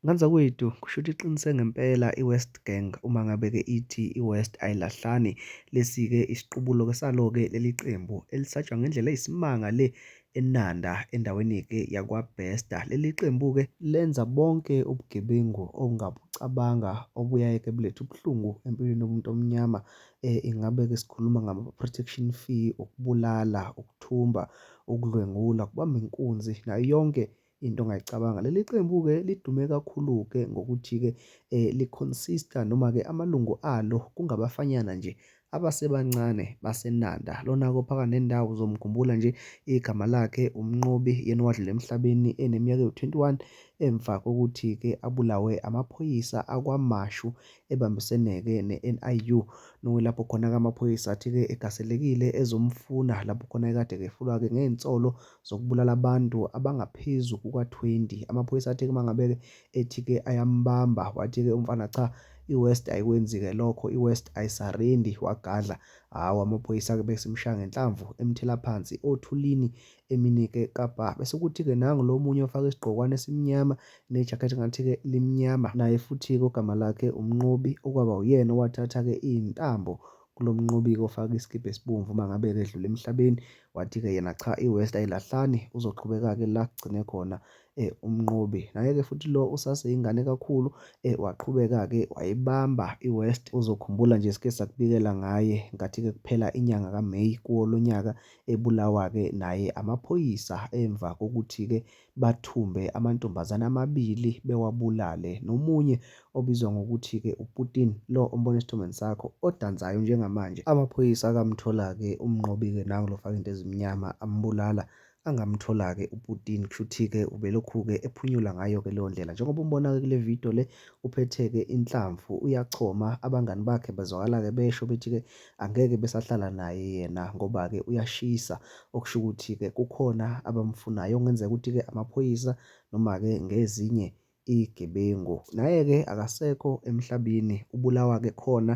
Nganzakwethu kushuthi iqinise ngempela i West Gang uma ngabe ke ithi i West ayilahlani lesi ke isiqubulo ke salo ke leli qembu elisatshwa ngendlela eyisimanga le eNanda endaweni ke yakwa Bester leli qembu ke lenza bonke ubugebengu ongabucabanga obuyaye ke bulethe ubuhlungu empilweni yomuntu omnyama eh ingabe ke sikhuluma ngama protection fee ukubulala ukuthumba ukudlwengula kubamba inkunzi nayo yonke into ongayicabanga. Leli qembu-ke lidume kakhulu-ke ngokuthi-ke um li-consista noma-ke amalungu alo kungabafanyana nje abasebancane baseNanda. Lona-ke ophakathi nendawo uzomkhumbula nje igama lakhe uMnqobi yena owadlula emhlabeni eneminyaka ewu-21 emva kokuthi-ke abulawe amaphoyisa akwaMashu ebambisene-ke ne-NIU. Nokuyilapho khona-ke amaphoyisa athi-ke egaselekile ezomfuna lapho khona ekade kehlulwa-ke ngey'nsolo zokubulala abantu abangaphezu kuka-20. Amaphoyisa athe uma ngabe-ke ethi-ke ayambamba, wathi-ke umfana cha, i-West ayikwenzi-ke lokho, i-West ayisarendi, wagadla. Hhawu, amaphoyisa-ke besimshaya ngenhlamvu, emthela phansi othulini, eminike kabha. Bese kuthi-ke nangu lo munye ofake isigqokwane esimnyama nejakhethi ngathi-ke limnyama, naye futhi-ke ogama lakhe uMnqobi, okwaba uyena owathatha-ke iy'ntambo kulo mnqobiko ofake isikibha esibomvu uma ngabe-ke edlula emhlabeni. Wathi-ke yena cha iWest ayilahlani uzoqhubeka-ke la kugcine khona um umnqobi. Naye-ke futhi lo usaseyingane kakhulu um waqhubeka-ke wayibamba iWest. Uzokhumbula nje sike sakubikela ngaye ngathi-ke kuphela inyanga kaMeyi kuwo lo nyaka ebulawa-ke naye amaphoyisa emva kokuthi-ke bathumbe amantombazane amabili bewabulale nomunye obizwa ngokuthi-ke uPutin lo ombona esithombeni sakho odansayo njengamanje. Amaphoyisa akamthola-ke uMnqobi-ke nangu lo ofake into ezimnyama ambulala angamthola-ke uPutin kushuthi-ke ubelokhu-ke ephunyula ngayo-ke leyo ndlela. Njengoba umbona-ke kule video le uphethe-ke inhlamvu uyachoma abangani bakhe bazwakala-ke besho bethi-ke Angeke besahlala naye yena ngoba-ke uyashisa okusho ukuthi-ke kukhona abamfunayo okungenzeka ukuthi-ke amaphoyisa noma-ke ngezinye iy'gebengu. Naye-ke akasekho emhlabeni ubulawa-ke khona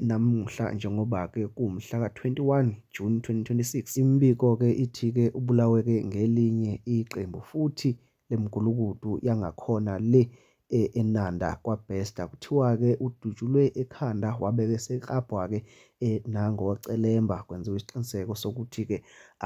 namuhla njengoba-ke kuwumhla ka-21 June 2026. Imibiko-ke ithi-ke ubulawe-ke ngelinye iqembu futhi lemgulukudu yangakhona le eNanda kwaBester kuthiwa-ke udutshulwe ekhanda wabeke seklabhwa-ke nangocelemba kwenziwa isiqiniseko sokuthi-ke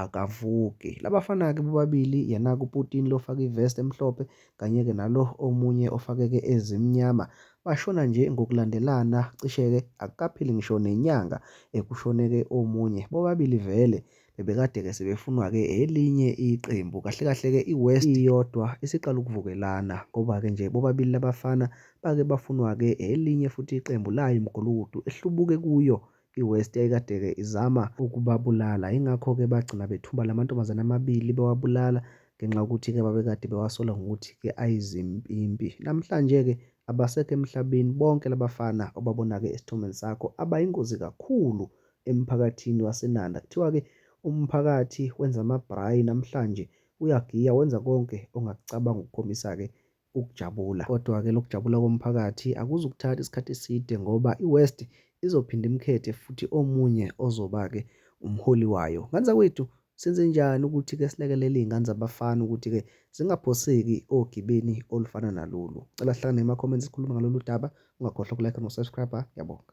akavuki. Labafana-ke bobabili yena-ke uPutin lo ofake ivest emhlophe kanye-ke nalo omunye ofakeke ezimnyama bashona nje ngokulandelana cishe-ke akukaphili ngisho nenyanga ekushoneke omunye bobabili vele bebekade-ke sebefunwa-ke elinye iqembu. Kahle kahle-ke iWest iyodwa isiqala ukuvukelana ngoba-ke nje bobabili labafana bake bafunwa-ke elinye futhi iqembu layo imgulukudu ehlubuke kuyo iWest yayikade-ke izama ukubabulala. Yingakho-ke bagcina bethumba la mantombazane amabili bewabulala ngenxa yokuthi-ke babekade bewasola ngokuthi-ke ayizimpimpi. Namhlanje-ke abasekho emhlabeni bonke labafana obabona-ke esithombeni sakho abayingozi kakhulu emphakathini waseNanda. Kuthiwa-ke umphakathi wenza amabhrayi namhlanje, uyagiya wenza konke ongakucabanga ukukhombisa-ke ukujabula. Kodwa-ke lokhu kujabula komphakathi akuzukuthatha isikhathi eside ngoba iWest izophinde imkhethe futhi omunye ozoba-ke umholi wayo. Ngane zakwethu, senzenjani ukuthi-ke silekelele iy'ngane zabafana ukuthi-ke zingaphoseki ogibeni olufana nalolu? Ngicela sihlangane ema-comments sikhulume ngalolu daba, ungakhohlwa uku-like noku-subscribe-a. Ngiyabonga.